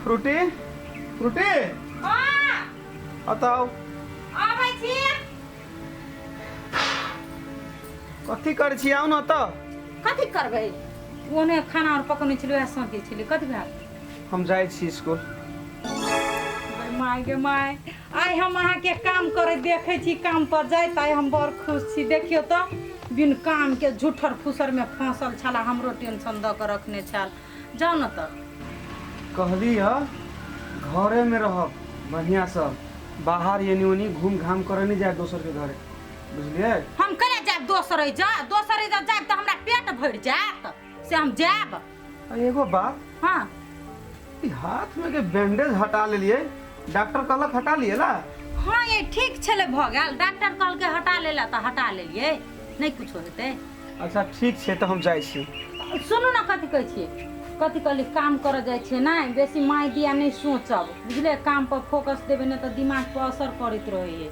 Frooti Frooti बताओ कथी कर छी आउ न त कथी करबै ओने खाना और पकने छलै आ सोते छलै कथी भए हम जाइ छी स्कूल माय गे माय आइ हम अहाँके काम करैत देखै छी काम पर जाइत आइ हम बड़ खुश छी देखियौ तऽ बिन काम के झूठर फुसर में फंसल छला हमरो टेंशन द के रखने छल जाओ न तऽ कहली ह घरे में रहब बढ़िया से बाहर एनी ओनी घूम घाम करे नहीं जाए दोसर के घरे बुझलिए हम कने जाब दोसर जा दोसर जा जाब तऽ हमरा पेट भरि जायत से हम जाएब आ, एगो बात हाँ ई हाथ में के बैंडेज हटा लेलिए डॉक्टर कहलक हटा लिए ना हाँ ये ठीक छले भऽ गेल डॉक्टर कहलके हटा लेला तऽ हटा लेलियै नहि कुछो हेतै अच्छा ठीक छै तऽ हम जाइ छी सुनू ने कथी कहै छियै कथी कहली काम करऽ जाइ छियै नहि बेसी माय दिया नहि सोचब बुझले काम पर फोकस देबै ने तऽ दिमाग पर असर करैत रहै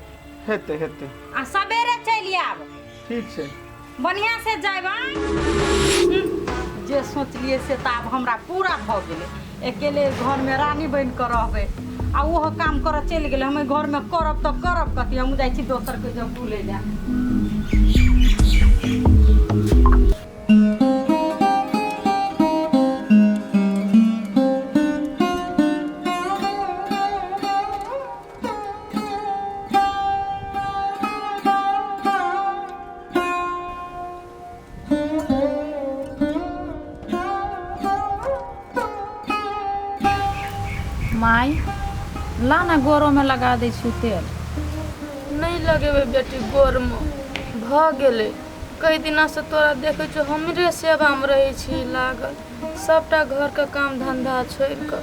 हेतै हेतै आ सबेरे चलि आयब ठीक छै बढ़िया से जाए भाई जे सोचलिए से तो अब हमरा पूरा भ गेले अकेले घर में रानी बन कर रहबे आ वो काम कर चल गए हम घर में करब तो करब कथी हम जाए छी दोसर के जब भूले जा माय ला ने गोरोमे लगा दै छी तेल नहि लगेबै बेटी गोरमे भऽ गेलै कई दिनासँ तोरा देखै छौ हमरे सेवामे रहै छी लागल सभटा घरके काम धन्धा छोड़ि कऽ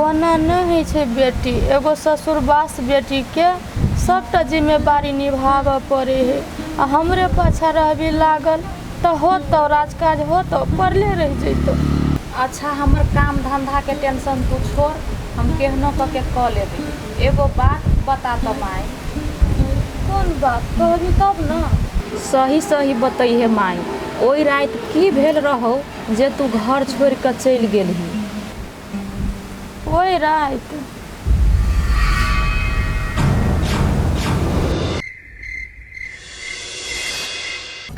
ओना नै होइ छै बेटी। एगो ससुरबासँ बेटीके सबटा जिम्मेबारी निभाबऽ पड़ै है आ हमरे पाछाँ रहबि लागल तँ होतौ राजकाज होतौ? पड़ले रहि जइतौ। अच्छा हमर काम-धन्धाके टेंशन तूँ छोड़, हम केहनो कऽ के कऽ लेबै। एगो बात बता तँ माइ। कोन बात? कहबि तब ने। सही-सही बतइहे माइ, ओइ राति की भेल रहौ जे तूँ घर छोड़ि कऽ चलि गेलहीं? ओहि राति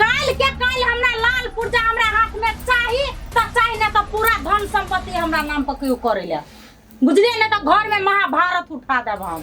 काल्हि के काल्हि हमरा लाल पुर्जा हमरा हाथ में चाही त चाही ना त पूरा धन संपत्ति हमरा नाम पर केहू करे ले बुझलिए ना त घर में महाभारत उठा देब हम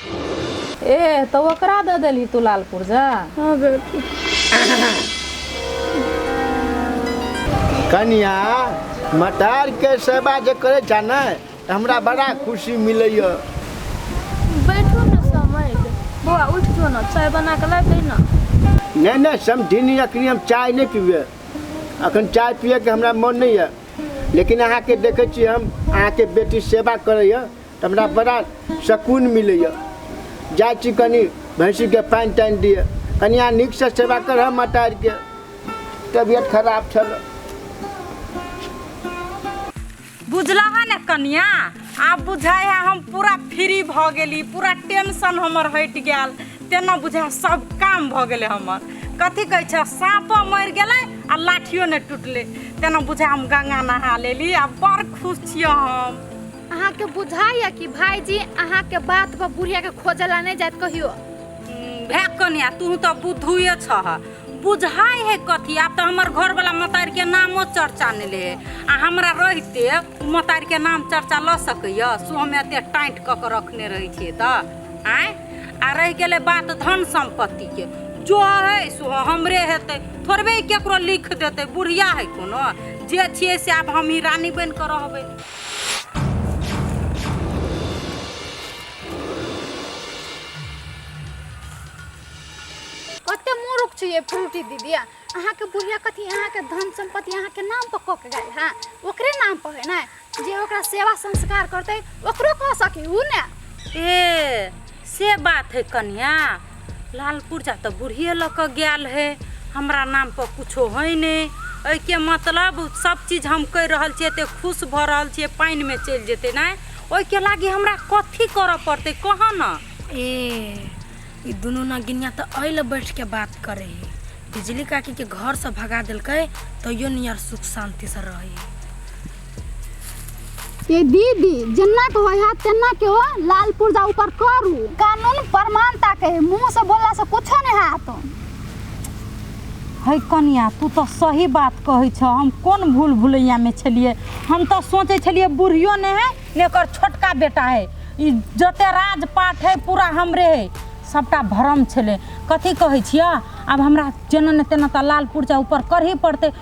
एह तऽ ओकरा दऽ देलही तू लाल पुर्जा हाँ बेटी कनिया मटार के सेवा जे करे छा ने तऽ हमरा बड़ा खुशी मिलैया बैठू ने समय के बौआ उठ जो ना चाय बना के ला दे ना नहि नहि समझिनी अखनी हम चाय नहि पीबे अखन चाय पियैके हमरा मन नहि यऽ लेकिन अहाँके देखै छी हम अहाँके बेटी सेवा करैया तऽ हमरा बड़ा सकून मिलैए जाइ छी कनि भैँसीके पानि तानि दिए कनिया नीकसँ सेवा करह मतारीके तबियत खराब छल बुझलह ने कनिया आब बुझाइ है हम पूरा फ्री भऽ गेली पूरा टेंशन हमर हटि गेल तेना बुझाइ सब काम भऽ गेलै हमर कथी कहै छै साँपो मरि गेलै आ लाठियो नहि टूटलै तेना बुझाइ हम गंगा नहा लेली आ बड़ खुश छियै हम अहाँ के बुझाइए कि भाईजी अहाँ के बात पर बुढ़िया के खोजे ला नहीं जात कहियो भए कन्या तू तो बुद्धुए छह बुझाइ है कथी आब तो हमर घर वाला मतार के नामो चर्चा नहीं ले आ हमरा रहते उ मतार के नाम चर्चा ल सकैय सो हमें एते टाइट क के रखने रही छे त आय आ रह गेले बात धन संपत्ति के जो है सो हमरे हेते थोड़बे केकरो लिख देते बुढ़िया है कोनो जे छिए से आब हमही रानी बन के रहबै कते मूर्ख छी ये फ्रूटी दीदी अहाँके बुढ़िया कथी अहाँके धन सम्पत्ति अहाँके नाम पर कऽ के गेल है ओकरे नाम पर है ना जे ओकरा सेवा संस्कार करते ओकरो कह सकी हूँ ने ए से बात है कन्या लालपुर जा तऽ बुढ़िए लऽ कऽ गेल है हमरा नामपर किछो होइ नहि एहिके मतलब सब चीज हम कहि रहल छियै एते खुश भऽ रहल छियै पानिमे चलि जेतै नहि ओहिके लागी हमरा कथी करऽ पड़तै कहऽ ने ए ई दुनू नगिनिया तऽ एहि लए बैठ के बात करे है बिजली काकी के घर से भगा देलकै तैयो नियर सुख शांति से रहे है ए दीदी जेना के होय है तेना के ओ लाल पुर्जा ऊपर करू कानून प्रमाणता के है, मुंह से बोलला से कुछो नहीं हाथ है कनिया तू तो सही बात कहै छ हम कोन भूल भुलैया में छलिए हम तो सोचे छलिए बुढ़ियो ने है ने एकर छोटका बेटा है ई जते राजपाट है पूरा हमरे है सबटा भरम छले कथी कहै छियै आब हमरा जेना ने तेना तऽ लाल पुर्जा ऊपर करही पड़तै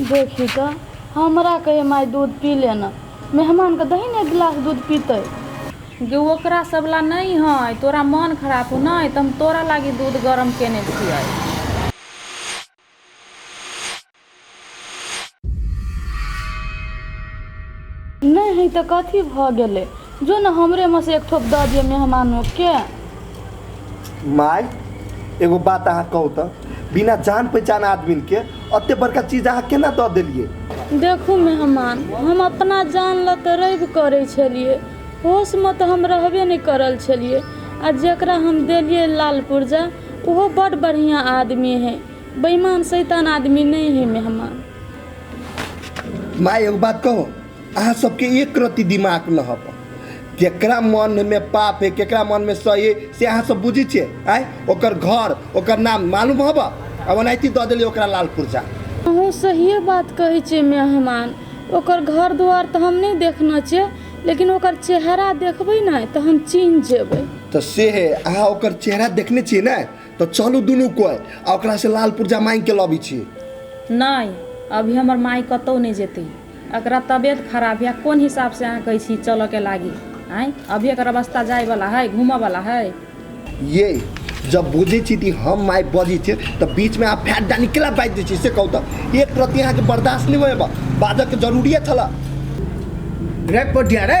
देखही तँ, हमरा कहैए माय दूध पी ले ने। मेहमानकेँ दही ने एक गिलास दूध पीतै। गै ओकरा सभला नहि हइ। तोरा मन खराप हउ ने, तँ हम तोरा लागी दूध गरम केने छिअइ। नहि हइ तँ कथी भऽ गेलै? जो ने हमरे में से एक ठोप दऽ दिए मेहमानों के माय एगो बात अहाँ कहू तऽ बिना जान पहचान आदमी के अते बड़का चीज अहाँ केना दऽ देलिए देखू मेहमान हम अपना जान लऽ तऽ रवि करै छलिए होश में तऽ हम रहबे नहि करल छलिए आ जकरा हम देलिए लाल पुर्जा ओहो बड बढ़िया आदमी है बेईमान शैतान आदमी नहि है मेहमान माय एगो बात कहू अहाँ सबके एक रत्ती दिमाग न हब केकरा मन में पाप है केकरा मन में सही है से अहाँ सब बुझी छे आय ओकर घर ओकर नाम मालूम हब अब अनायती द देली ओकरा लाल पुरजा अहूँ सहिए बात कहै छियै मेहमान ओकर घर दुआर तऽ हम नहि देखने छियै लेकिन ओकर चेहरा देखबै ने तऽ हम चिन्ह जेबै तो से है अहाँ ओकर चेहरा देखने छियै ने तो चलू दुनू कोई आ ओकरा से लाल पुरजा मांग के लबी छी नहि अभी हमर माय कतहु नहि जेतै एकरा तबियत खराब या कोन हिसाब से अहा कहै छी चलऽ के लागी आय अभी एकर अवस्था जाय वाला है घूमऽ वाला है ये जब बुझे छी कि हम माय बजी छी तो बीच में आप फैट डाली केला बाज दै छी से कहू तो एक प्रति अहाँ के बर्दाश्त नहीं होएबा बाजऽ के जरूरी है छला रे पटिया रे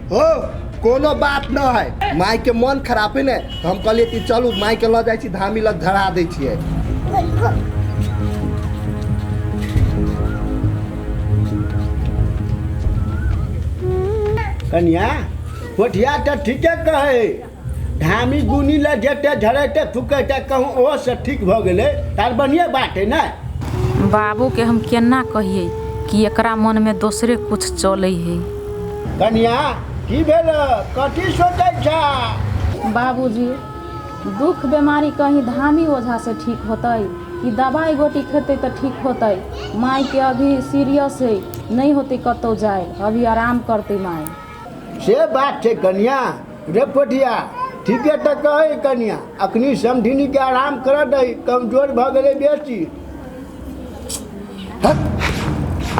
हो कोनो बात न है माय के मन खराब है ने तो हम कहलिए कि चलू माय के लऽ जाइ छी धामी लग धरा दै छियै कन्या कोठिया तऽ ठीके कहै धामी गुनी लए जेतै झड़ेतै फुकेतै कहूँ ओहो से ठीक भऽ गेलै तार बढ़िए बात है ने बाबूके हम केना कहियै कि एकरा मनमे दोसरे कुछ चलै है कनिया की भेल कथी सोचै छा बाबूजी दुख बेमारी कहीं धामी ओझा से ठीक होतै कि दवाई गोटी खेतै तऽ ठीक होतै मायके अभी सीरियस है नहि होतै कतौ जाय अभी आराम करतै माय से बात छै कनिया रे पोठिया ठीके तऽ कहै कनिया अखनी समधिनी के आराम करऽ दही कमजोर भऽ गेलै बेसी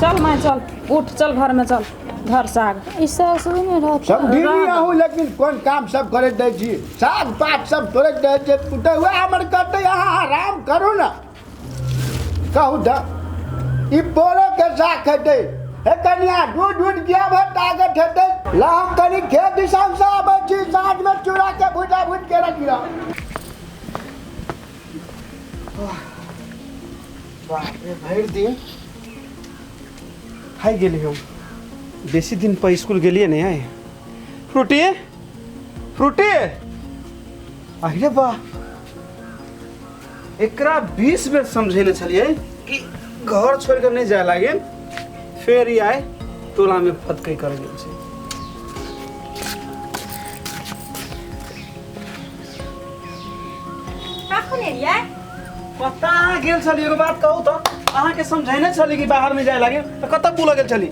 चल माय चल उठ चल घर में चल घर से आग ई सासु नहि रहत समधिनी राम। रहू लेकिन कोन काम सब करैत दै छी साग पात सब तोड़ैत दै छै पुतहुआ हमर कहतै अहाँ आराम करू ने कहू द ई बोरो के साख हेतै हे कनिया दूध दूध किया भर ताकत हेतै ला हम कनी खेत दिशान से आबै छी साँझ में चूड़ा के भुजा भुज के रखी रह बाप रे भरि दिन हाय गेली हम बेसी दिन पर स्कूल गेलिए नहीं है फ्रूटी फ्रूटी अरे वाह एकरा बीस बेर समझेने छलिए कि घर छोड़ कर नहीं जाए लागे फिर ही आए टोला में फतकई कर गेल छै कखन एलियै कतऽ अहाँ गेल छली एगो बात कहू तऽ अहाँके समझेने छली कि बाहर में जाए लागे तऽ कतऽ बुलऽ गेल छली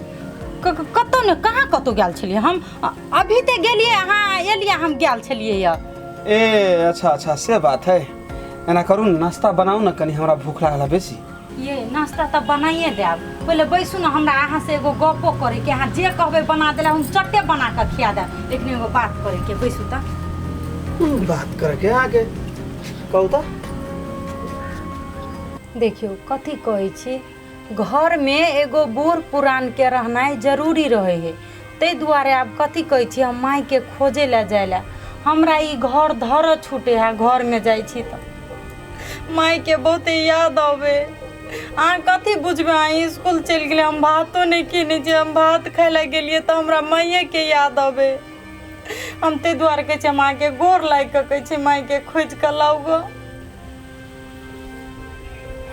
क- क- कतहु ने कहाँ कतहु गेल छलियै हम अ- अभी तऽ गेलियै अहाँ एलियै हम गेल छलियै यऽ ए अच्छा अच्छा से बात है एना करू ने नाश्ता बनाउ ने कनि हमरा भूख लागल बेसी ये नाश्ता तऽ बनाइए देब पहिले बैसू ने हमरा अहाँ से एगो गपो करे के अहाँ जे कहबै बना देला हम चट्टे बना कऽ खिया देब लेकिन एगो बात करे के बैसू तऽ बात करके आगे कहू तऽ देखियौ कथी कहै छी घर में एगो बूढ़ पुरान के रहनाई जरूरी रहे हे ते दुआरे आब कथी कहे छी हम माई के खोजे ला जाय ला हमरा ई घर धर छूटे हा घर में जाय छी तो माई के बहुत याद आवे अहाँ कथी बुझबे अहाँ स्कूल चल गए हम भातो नहीं खेने छी हम भात खाय ला गलिए तो हमरा माइये के याद आवे हम ते दुआरे कहे छी हम अहाँ के गोर लाग के कहे छी माई के खोज के लाऊ गो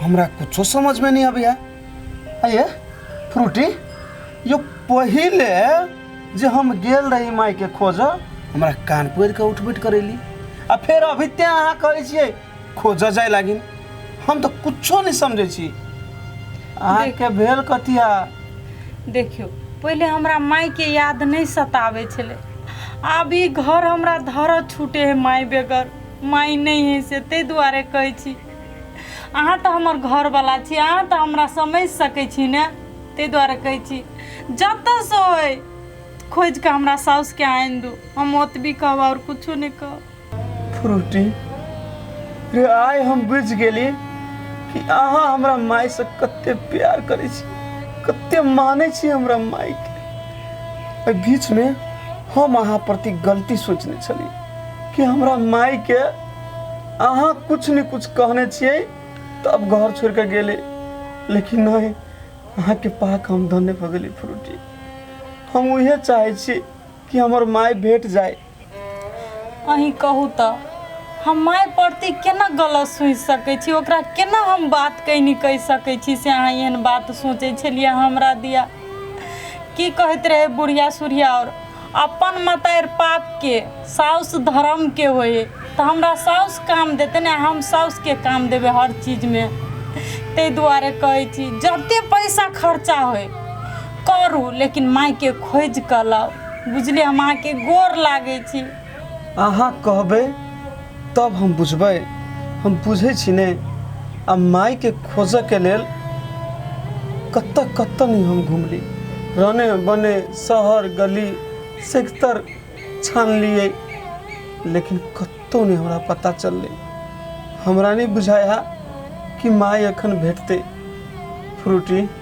हमरा कुछो समझ में नहीं आबैया आइए फ्रूटी यो पहिले जे हम गेल रही माई के खोज हमरा कान पकड़ के उठ बैठ करेली आ फेर अभी ते अहाँ कहै छियै खोज जाय लागिन हम तो कुछो नहीं समझे छी अहाँ के भेल कथिया देखियो पहिले हमरा माई के याद नहीं सतावे छले आब ई घर हमरा धर छूटे है माई बेगर माई नहीं है से ते दुआरे कहे छी अहाँ तो हमर घर वाला छी अहाँ तो हमरा समझ सके छी ने ते दुआरे कहे छी जत से होय खोज के हमरा साउस के आन दू हम ओतबी कहब और कुछो नहीं कहब फ्रूटी रे आइ हम बुझि गेली कि अहाँ हमरा मायसँ कते प्यार करै छी कते मानै छी हमरा मायके एहि बीचमे हम अहाँ प्रति गलती सोचने छली कि हमरा माई के अहाँ कुछ ने कुछ कहने छिए तब घर छोड़ के गेले लेकिन नहीं अहाँ के पाक हम धन्य भऽ गेली फ्रूटी हम उहे चाहे छी कि हमर माई भेट जाए अहीं कहू तऽ हम माय प्रति केना गलत सोचि सकै छी ओकरा केना हम बात कैनी कहि सकै छी से अहाँ एहन बात सोचै छलियै हमरा दिया की कहैत रहै बुढ़िया सुढ़िया आओर अपन मतारि पापके साउस धर्मके होइ तऽ हमरा साउस काम देतै ने हम साउसके काम देबै हर चीजमे ताहि दुआरे कहै छी जते पैसा खर्चा होइ करू लेकिन मायके खोजि कऽ लाउ बुझलियै हम अहाँके गोर लागै छी अहाँ कहबै तब हम बुझबै हम बुझै छी ने आ मायके खोजऽके लेल कतऽ कतऽ नहि हम घुमली रने बने शहर गली सेक्टर छानलियै लेकिन कतहु नहि हमरा पता चललै हमरा नहि बुझाइ है कि माय एखन भेटतै फ्रूटी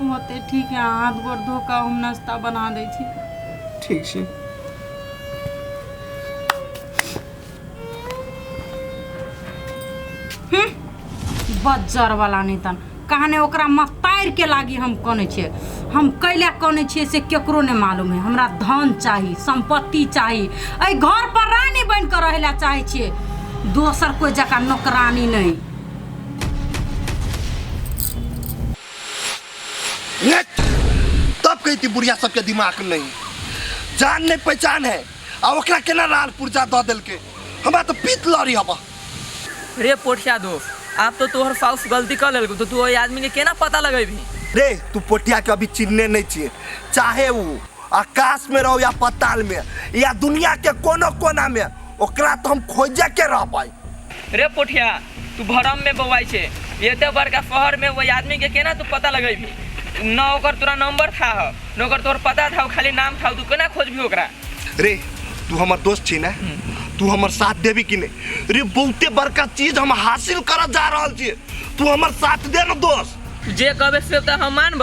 होतै ठीक है हाथ गोड़ धो कऽ हम नाश्ता बना दै छी ठीक छै बज्जर वाला नहीं तन कहने ओकरा मतार के लागी हम कने छे हम कैला कने छे से केकरो ने मालूम है हमरा धन चाही संपत्ति चाही ऐ घर पर रानी बन कर रहला चाहे छे दोसर कोई जका नौकरानी नहीं तब कहती बुढ़िया सबके दिमाग नहीं जान नहीं पहचान है आ ओकरा केना लाल पुर्जा दऽ देलकै हमरा तऽ पीत लड़ी हबा रे पोठिया दो आब तो तोहर साउस गलती कर लेलको तो तू ओहि आदमी के केना पता लगेबी रे तू पोटिया के अभी चिन्हने नहीं छिए चाहे वो आकाश में रहो या पताल में या दुनिया के कोनो कोना में ओकरा तो हम खोजे के रह पाई रे पोठिया तू भरम में बौआई छे एते बड़का शहर में वही आदमी के केना तू पता लगेबी न ओकर तोरा नंबर था हो न ओकर तोर पता था खाली नाम था तू केना खोजबी ओकरा रे तू हमर दोस्त छी ना तू हमर साथ देबी कि नहीं रे बहुते बड़का चीज हम हासिल करत जा रहल छी तू हमर साथ दे ना दोस्त जे कहबे से त हम मानब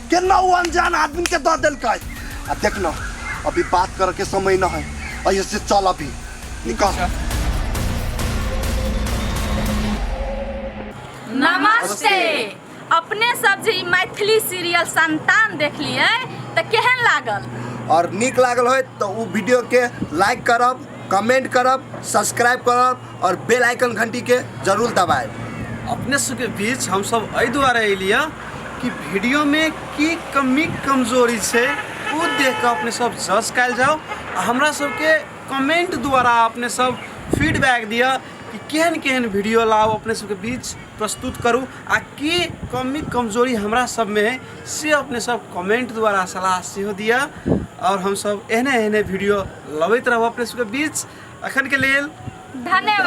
केना वो अनजान आदमी के दऽ देलकै आ देख न अभी बात करे के समय न है अइसे से चल अभी निकल नमस्ते अपने सब जे ई मैथिली सीरियल संतान देखलिए तऽ केहन लागल और नीक लागल होय तऽ ओ वीडियो के लाइक करब कमेंट करब सब्सक्राइब करब और बेल आइकन घंटी के जरूर दबाए अपने सबके बीच हम सब एहि दुआरे एलिए कि वीडियो में की कमी कमजोरी छै ओ देख के अपने सब जज कल जाओ आ हमरा सबके कमेंट द्वारा अपने सब फीडबैक दिअ कि केहन केहन वीडियो लाओ अपने सबके बीच प्रस्तुत करू आ की कमी कमजोरी हमरा सब में है से अपने सब कमेंट द्वारा सलाह सेहो दिया और हम सब एहने एहने वीडियो लबैत रहब अपने सबके बीच अखन के लेल धन्यवाद